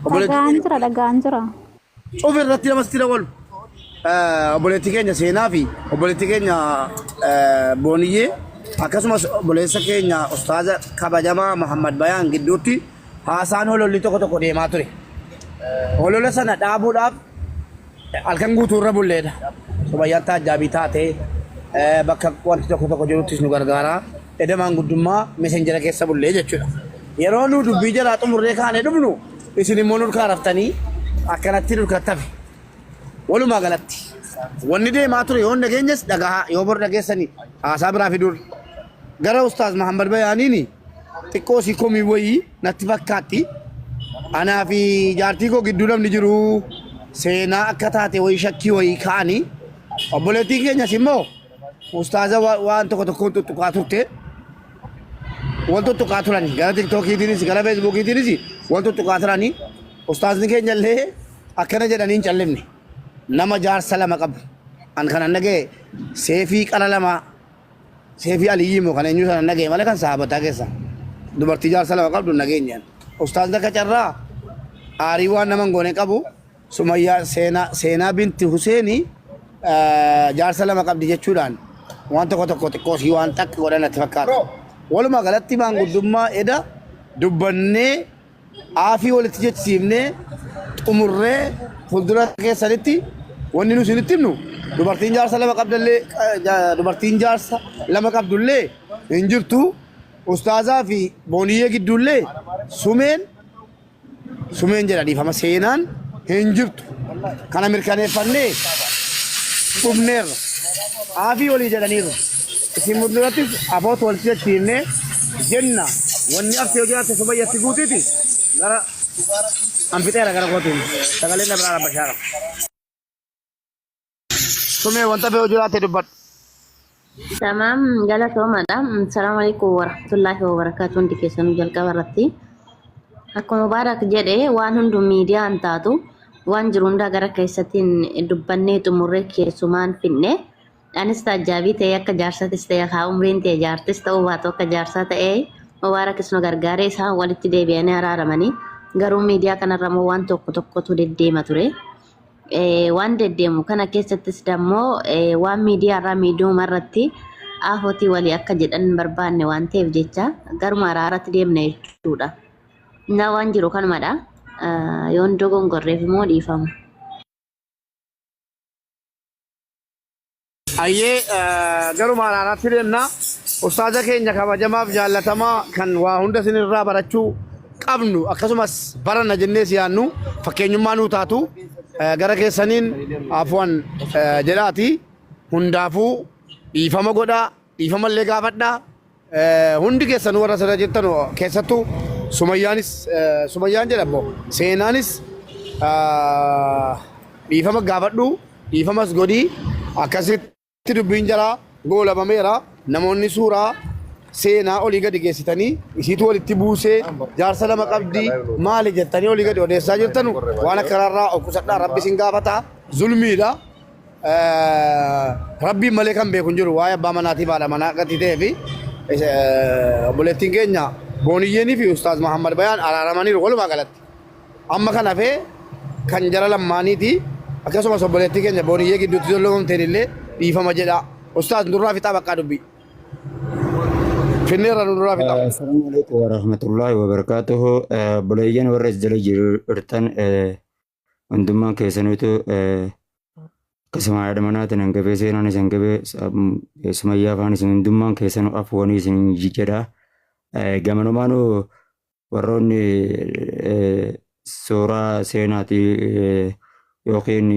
Obboleetti Dhaga'aan keenya jira dhaga'aan jira. cufa irratti namas itti dabalu. Eh, Obboleetti keenya seenaa fi obboleetti keenya eh, booniyyee akkasumas obboleessa keenya ustaaza kabajamaa Muhammad Bayaan gidduutti haasaan hololli tokko tokko deemaa ture. Holola sana dhaabuudhaaf Halkan guutuu irra bulleedha. Sumayyaan taajjaabii taatee bakka wanti tokko tokko jiruttis nu gargaaraa. Eda maanguddummaa meseenjera keessa bullee jechuudha. Yeroo nu dubbii jalaa xumurree kaanee dhufnu isin immoo nurkaa raftanii akkanatti nurkattafe. Walumaa galatti wanni deemaa ture yoo hin dhageenyes dhagahaa yoo bor dhageessani haasaa biraa fiduun gara Ustaaz Mahammad Bayaaniini xiqqoo sii komii wayii natti fakkaatti. Anaa fi jaartii koo gidduu namni jiru seenaa akka taate wayii shakkii wayii ka'anii obboleettiin keenyas immoo ustaaza wa- waan tokko tokkoon tuttuqaa turte wal tuttuqaa turani gara tiktookiitiinis gara feesbuukiitiinis wal tuttuqaa turani ustaazni keenya illee akkana jedhanii hin callifne nama jaarsa lama qabu an kanan dhaga'e seefii qara lamaa Seefii Aliyyii moo kan eenyuu sana hin dhagaye malee kan sahaabataa keessa dubartii jaarsa lama qabdu hin dhageenyaan. Ustaazna akka carraa aarii waan nama hin goone qabu Sumayyaa seenaa seenaa binti Huseeni jaarsa lama qabdi jechuudhaan waan tokko tokko xiqqoo sii waan xaqqa godhan natti fakkaata. Walumaa galatti maanguddummaa eda dubbannee aafii walitti jechisiifnee xumurree fuuldura keessanitti wanni nu isinitti himnu dubartiin jaarsa lama qabdallee eh, ja- dubartiin jaarsa lama qabdullee hin jirtu ustaazaa fi booniyyee gidduullee sumeen sumeen jedha dhiifama seenaan hin jirtu kana mirkaneeffannee dhumneerra aafii walii jedhaniiru Isin mul'inattis abootu walitti jechiifnee jenna wanni arti yoo jiraatte sumayya si guutiti gara an fixeera gara kootiin sagaleen na biraa rabbashaara. Sumee wanta fe'u jiraatte dubbadhu. Tamaam galatoomadha. Salaamu alaikum warahmatullaahi wabarakaatu hundi keessanuu jalqaba irratti. Akkuma Mubaarak jedhe waan hundu miidiyaa hin taatu waan jiru hundaa gara keessattiin dubbannee xumurree keessumaan finne Anis taajjaabii ta'ee akka jaarsatis ta'e haa umriin tee jaartis ta'uu baatu akka jaarsaa ta'ee Mubaarakis nu gargaaree isaan walitti deebi'anii araaramanii garuu miidiyaa kanarramoo waan tokko tokkotu deddeema ture. Waan deddeemu kana keessattis dammoo waan miidiyaarraa miidiyuma irratti aafotii walii akka jedhan hin barbaanne waan ta'eef jecha garuma araaratti deemna jechuudha. Innaa waan jiru kanumadha. Yoon dogongorreef immoo dhiifama. Hayyee gara maaraanaatti deemna. Ustaaza keenya kabajamaaf jaallatamaa kan waa hunda isinirraa barachuu qabnu akkasumas baranna jennee si yaannu fakkeenyummaa nuu taatu eh, gara keessaniin afuwan eh, jedhaati hundaafuu dhiifama godhaa dhiifama illee gaafadhaa Hundi keessanuu warra asirra jirtan keessattuu Sumayyaanis Sumayyaan jedhamu seenaanis dhiifama gaafadhu dhiifamas godhii akkasitti dubbiin jalaa goolabameera namoonni suuraa seenaa olii gadi geessitanii isiitu walitti buusee jaarsa lama qabdi maali jettanii olii gadi odeessaa jirtanu waan akkanaarraa of qusadhaa rabbi isin gaafata zulmiidha. Rabbiin malee kan beeku hin jiru waa'ee abbaa manaatii fi haadha manaa akkatti ta'ee fi obboleettiin keenya Booniyyeenii fi Ustaaz Mahammad Bayaan araaramaniiru walumaa galatti. Amma kan hafee kan jara lammaaniiti akkasumas obboleettii keenya Booniyyee gidduutti jolloomamteen illee dhiifama jedha. Ustaaz nurraa fixaa baqqaa dubbii. Finneerra nurraa fixaa. Assalamu alaikum warahmatullahi wabarakatuh. Buleeyyan warra as jala jirtan hundummaan keessaniitu akkasuma haadha manaatiin hin gabee seenaan isin gabee sumayyaa afaan isin hundummaan keessanuu afuwanii isin jedha. Gamanumaanu warroonni suuraa seenaati yookiin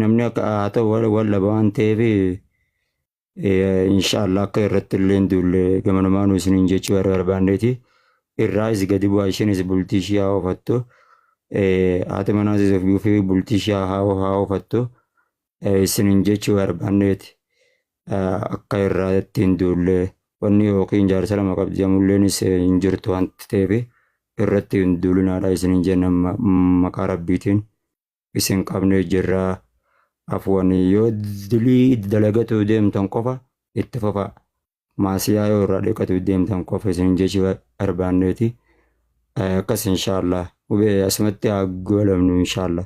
namni akka haa ta'u wal dhaba waan ta'eef Inshaallah akka irratti illee hin duulle gamanumaanuu isiniin jechuu warra barbaanneeti. Irraayis gadi bu'aa isheenis bultii ishii haa oofattu. Haati manaasis ofii ofii bultii ishii haa haa oofattu. Isiniin jechuu barbaanneeti. Akka irraatti hin duulle wanni yookiin jaarsa lama qabdi jamulleenis hin jirtu wanti ta'eef irratti hin duulinaadha isiniin jenna maqaa rabbiitiin. isin qabnee jirra. Afwan yoo dilii dalagatuu deemtan qofa itti fufaa. Maasiyaa yoo irraa dhiqatuu deemtan qofa isin jechi barbaanneeti. Akkas inshaallah. Hubee asumatti haa goolabnu inshaallah.